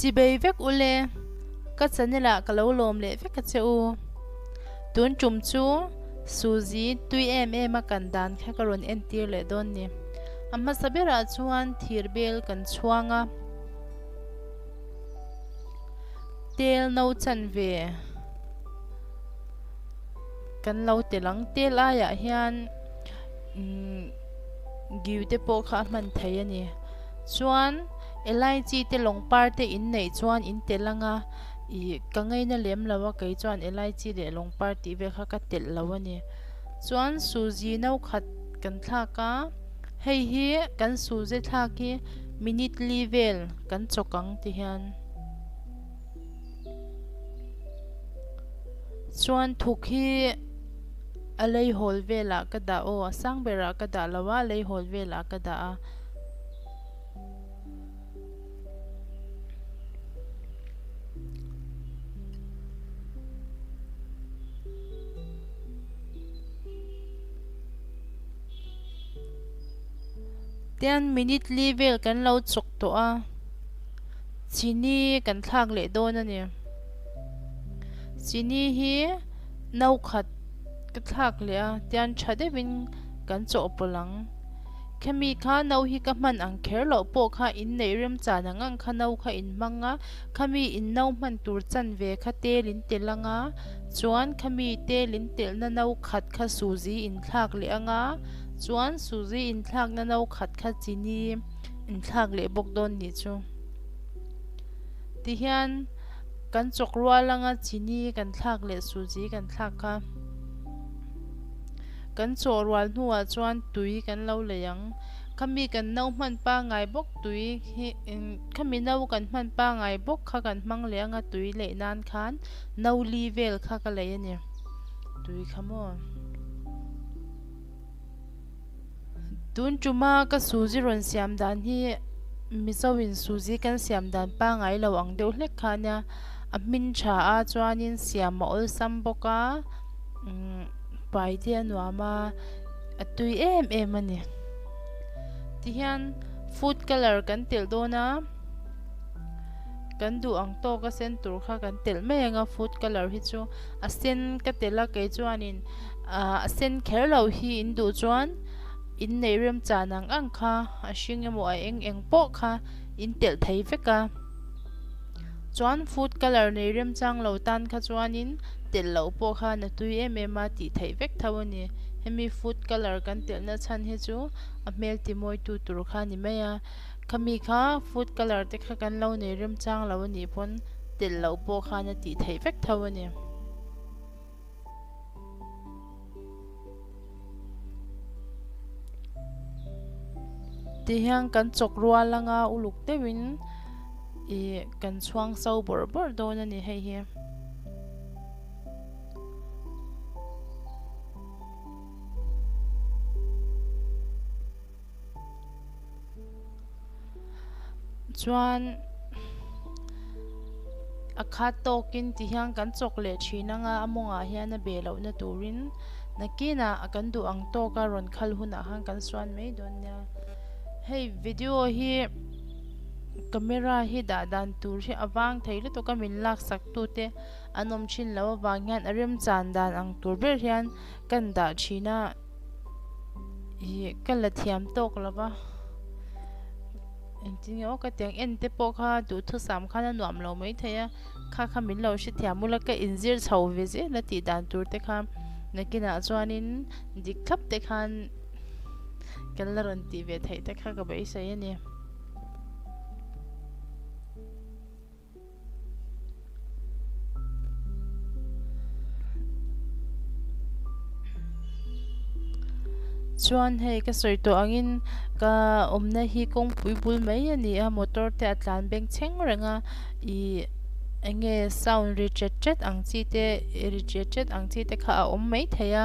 chi bei vek u le ka chanel ah ka lo lawm leh vek a che u tun tum chu suzi tui em em a kan dan kha ka rawn en tir leh dawn ni a hmasa ber ah chuan thir bel kan chhuang a. Tel no chan ve kan lo tel ang. Tel aiah hian giu te pawh kha a hman thei a ni. Chuan elaichi te lawng par te in neih chuan in tel ang a, ih ka ngei na lem lo a kei chuan elaichi leh lawng par tih vel kha ka telh lo a ni. Chuan Suji no khat kan thlak a. Hei hi kan sul zet thlak hi minute li vel kan chawk ang ti hian chuan thuk hi a lei hawl velah ka dah aw a sang berah ka dah lo a lei hawl velah ka dah a. Ten minute li vel kan lo chawk tawh a, chini kan thlak leh dawn a ni. Chini hi no khat ka thlak leh a, tian tha deuh in kan chaw pawlh ang. Khami kha no hi ka hman ang kher loh pawh kha in neih rem chan ang ang kha no kha in hmang a, khami in no hman tur chan ve kha tel in tel ang a. Chuan khami te lin telhna no khat kha Suzy in thlak leh anga, chuan Suzy in thlakna no khat kha Chini in thlak leh bawk dawn nih chu. Tihian kan chawk rual anga Chini kan thlak leh Suzy kan thlak kha. Kan chaw rual hnuah chuan tui kan lo lei ang. Khami kan no hman pangai bawk tui hi, khami no kan hman pangai bawk kha kan hmang leh anga tui leh nan khan. No li vel kha ka lei a ni. Tui kha maw? Tun ṭuma ka Suzi rawn siam dan hi Mizo in Suzi kan siam dan pangai lo ang deuh hlek kha nia. A hmin ṭha a chuanin siam a awlsam bawk a, umm pai te a nuam a, a tui em em a ni. Tihian food colour kan telh dawn a. Kan duh ang tawk a sen tur kha kan telh mai anga food colour hi chu a sen ka tel a kei chuanin ahh a sen kher lo hi in duh chuan in neih rem chan ang ang kha a hring emaw a eng eng pawh kha in telh thei vek a chuan food colour nei rem chang lo tan kha chuanin telh lo pawh kha na tui em em a tih theih vek tho a ni hemi food colour kan telh na chhan hi chu a hmel ti mawi tu tur kha a ni mai a. Khami kha food colour te kha kan lo nei remchang lo a nih pawn telh loh pawh khan a tih theih vek tho a ni. Ti hian kan chawk rual anga uluk deuhin ih kan chhuang so bawrh bawrh dawn a ni hei hi. chuan a khat tawkin ti hian kan chawk leh thin anga a mawngah hian a be lohna turin nakinah a kan duh ang tawk a rawn khal hunah khan kan suan mai dawn nia hei video hi camera hi dah dan tur hi a vang thei lutuk a min laksak tu te an awm thin loh avang hian a remchan dan ang tur ber hian kan dah thin a. hi ka la thiam tawk lo va engtin nge aw ka tiang en te pawh kha duh thusam khan a nuam lo mai thei a kha kha min lo hre thiam bula ka inzir chho ve zel a tih dan tur te kha nakinah chuanin dik thlap te khan kan la rawn tih ve theih te kha ka beisei a ni. Chuan hei ka sawi tawh angin ka awmna hi kawngpui bul mai a ni a, motor te a tlan beng chheng reng a, ih enge sound ri ṭet ṭet ang chi te ih ri ṭet ṭet ang chi te kha a awm mai thei a,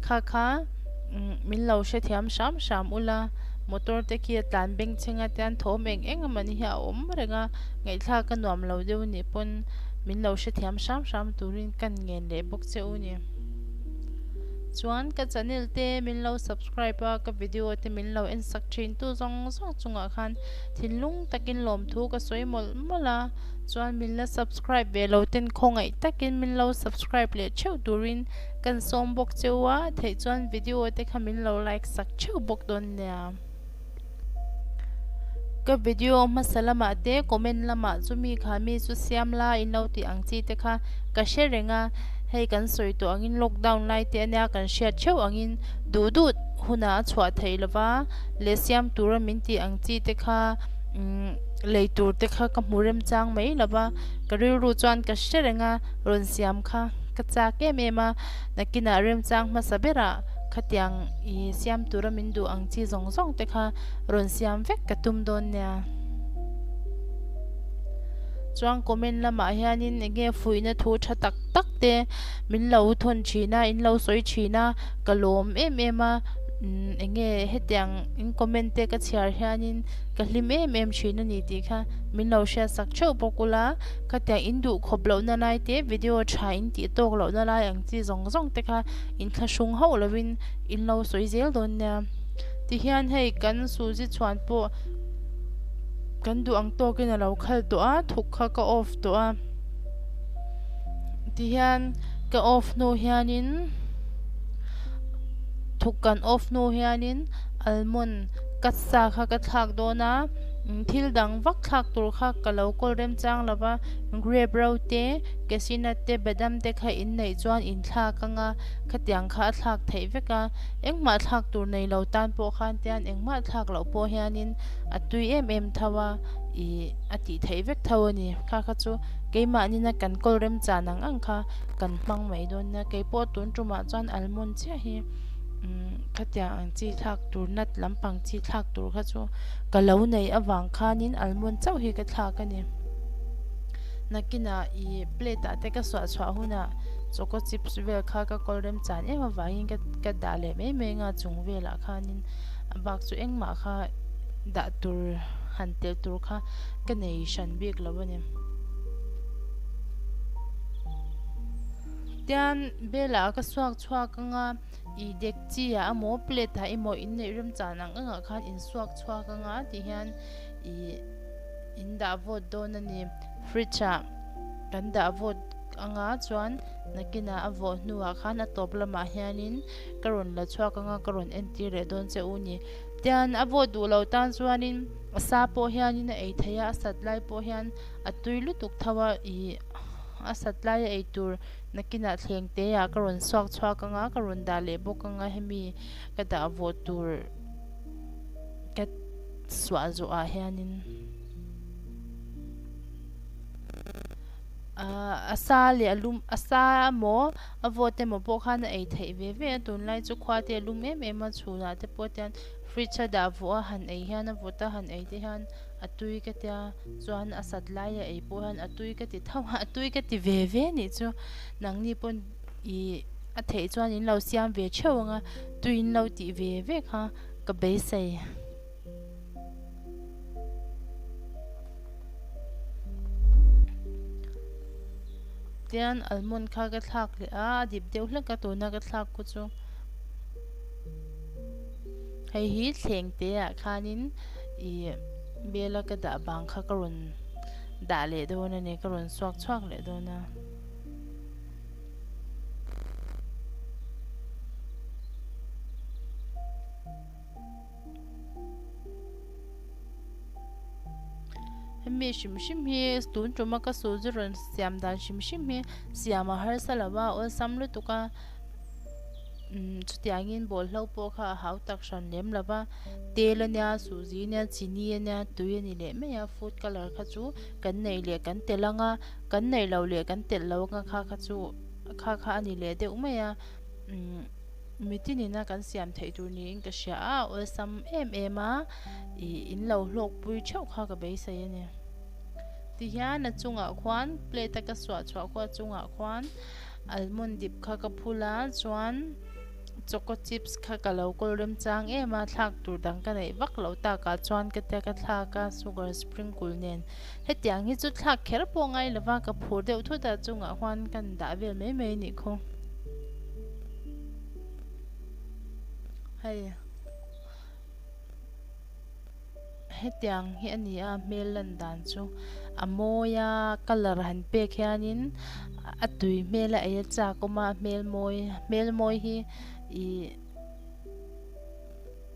kha kha umm min lo hrethiam hram hram ula motor te khi a tlan beng chheng atian thawm eng eng a mani hi a awm reng a. Ngaihthlak ka nuam lo deuh nih pawn min lo hrethiam hram hram turin kan ngen leh bawk che u ni. Chuan ka channel te min lo subscribe a, ka video te min lo en sak thin tu zawng zawng chungah khan thinlung takin lawmthu ka sawi mawlh mawlh a, chuan min la subscribe ve lo ten khawngaih takin min lo subscribe leh theuh turin kan sawm bawk che u a, theih chuan video te kha min lo like sak theuh bawk dawn nia. Ka video hmasa lamah te comment lamah chu mi kha mi chu siam la in lo tih ang chi te kha ka hre reng a hei kan sawi tawh ang in lockdown lai te a nia kan hriat theuh ang in duh duh hunah a chhuah theih lo va leh siam tura min tih ang chi te kha umm lei tur te kha ka hmu rem chang mai lo va ka rilru chuan ka hre reng a rawn siam kha ka chak em em a nakinah remchang hmasa berah. Khatiang i siam tura min duh ang chi zawng zawng te kha rawn siam vek ka tum dawn nia. Chuan comment lamah hianin enge fuihna thu tha tak tak te min lo thawn thin a, in lo sawi thin a, ka lawm em em a, enge hetiang in comment te ka chhiar hianin ka hlim em em thin a ni tih kha min lo hriat sak theuh bawk ula, khatiang in duh khawp lohna lai te, video tha in tih tawk lohna lai ang chi zawng zawng te kha, In thla hrawng hauh lo in in lo sawi zel dawn nia. Tihian hei kan Suzy chhuan pawh kan duh ang tawk in a lo khal tawh a, thuk kha ka off tawh a. Tihian ka off hnu hian in thuk kan off hnu hian in almond cut sa kha ka thlak dawn a, thil dang vak thlak tur kha ka lo kawl rem chang lo va, grape ro te, Casina te Badam te kha in neih chuan in thlak anga khatiang kha a thlak theih vek a, engmah thlak tur nei lo tan pawh khan tian engmah thlak loh pawh hianin a tui em em tho a, ih a tih theih vek tho a ni. Kha kha chu keimahnina kan kawl rem chân ang ang kha kan hmang mai dawn nia, keipawh tun tumah chuan almond chiah hi umm khatiang ang chi thlak tur nut lampang chi thlak tur kha chu ka lo neih avang khanin almond chauh hi ka thlak a ni. nakinah i plate ah te ka suah chhuah hunah choco chips vel kha ka kawl remchan em avangin ka ka dah leh mai mai anga chung velah khanin a bak chu engmah kha dah tur han telh tur kha ka nei hran bik lo a ni tian belah ka suak chhuak anga ih dekchi ah emaw plate ah emaw inneih remchan ang ang ah khan in suak chhuak anga tihian ih-- In dah vawt dawn a ni. Fridge ah kan dah vawt ang a, chuan nakin ah a vawh hnu ah khan a tawp lam ah hian in ka rawn la chhuak ang a, ka rawn en tir leh dawn che u ni. Tian a vawt duh lo tan chuan in a sa pawh hian in a ei thei a, a sat lai pawh hian a tui lutuk tho a, ih a sat lai a ei tur nakin ah thleng te ah ka rawn suak chhuak ang a, ka rawn dah leh bawk ang a, hemi ka dah vawt tur ka. Suah zawh ah hianin a sa leh a lum, a sa emaw a vote emaw pawh khan a ei theih ve ve a, tunlai chu khuate a lum em em a, chhunah te pawh tian fridge a dah vuah a, han ei hian a vote a, han ei te hian a tui ka tia, chuan a sat lai a ei pawh hian a tui ka ti thauh a, a tui ka ti ve ve nih chu nangni pawn ih a theih chuan in lo siam ve theuh ang a, tuiin lo tih ve ve kha. ka beisei. Tian almond kha ka thlak leh a, a dip deuh hlek a, tuna ka thlak pawh chu hei hi thleng te ah khan in i bel a ka dah vang kha ka rawn dah leh dawn a ni, ka rawn suak chhuak leh dawn a. Hemi hrim hrim hi tun tuma ka sul chu rawn siam dan hrim hrim hi siam a harsa lo va awlsam lutuk a umm chutiang in ball hlo pawh kha a hau tak hran lem lo va tel a nia suh zi a nia chini a nia tui a ni leh mai a food colour kha chu kan neih leh kan telh ang a. Kan neih lo leh kan telh lo anga kha kha chu kha kha a ni leh deuh mai a, umm miti nina kan siam theih tur niin ka hria a, awlsam em em a, ih in lo hlawk pui theuh kha ka beisei a ni. Ti hian a chungah khuan plate a ka suah chhuah khuah chungah khuan almond dip kha ka phulh a, chuan choco chips kha ka lo kawl remchang em a, thlak tur dang ka neih vak loh takah chuan ka tia ka thlak a, sugar sprinkle nen. Hetiang hi chu thlak kher pawh ngai lova ka phur deuh thut a chungah huan ka in dah vel mai mai nih khaw. Hei hetiang hi a ni a hmel lan dan chu a mawi a colour han pek hianin a tui hmel a ei a chakawm a hmel mawi hmel mawi hi ihh.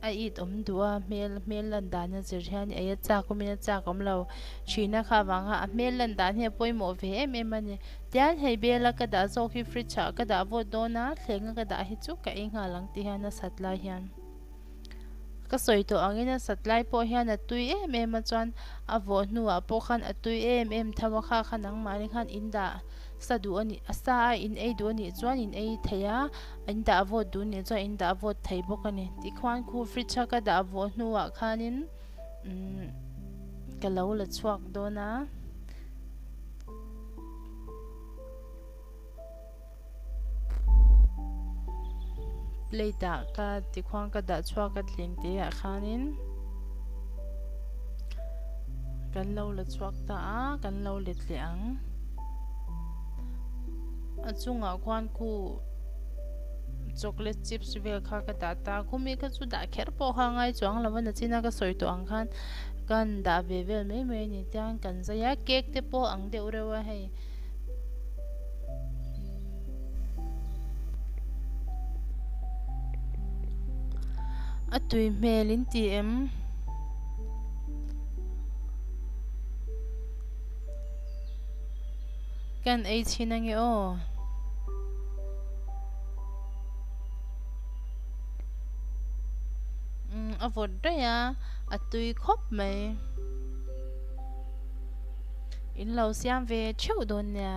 A it awm duh a, hmel hmel lan dan a zir hian ei a chak awmin a chak awm lo. Thihna kha avanga a hmel lan dan hi a pawimawh ve em em a ni. Tian hei bela ka dah zawk hi fridge ah ka dah vawt dawn a, thlengah ka dah hi chu ka ei nghal ang ti hian a sat lai hian ka sawi tawh angin a sat lai pawh hian a tui em em a chuan a vawh hnuah pawh khan a tui em em tho a, kha kha nangmahni khan in dah sa duh a nih, a sa a in ei duh a nih chuan in ei thei a. In dah a vawt duh nih chuan in dah a vawt thei bawk a ni. Tikhuan khu fridge a ka dah a vawh hnuah khanin ka lo la chhuak dawn a. Plate ah ka tikhuan ka dah chhuak a tling te ah khanin kan lo la chhuak ta a, kan lo let leh ang. A chungah khuan khu chocolate chips vel kha ka dah ta. Khumi kha chu dah kher pawh kha ngai chuang lo a, nachina ka sawi tawh ang khan kan dah ve vel mai mai a ni tiang kan zai a. Cake te pawh ang deuh reuh a hei. A tui hmel in tih em? Kan ei chhin a nge aw. Um, a vawt rei a, a tui khawp mai. In lo siam ve theuh dawn nia.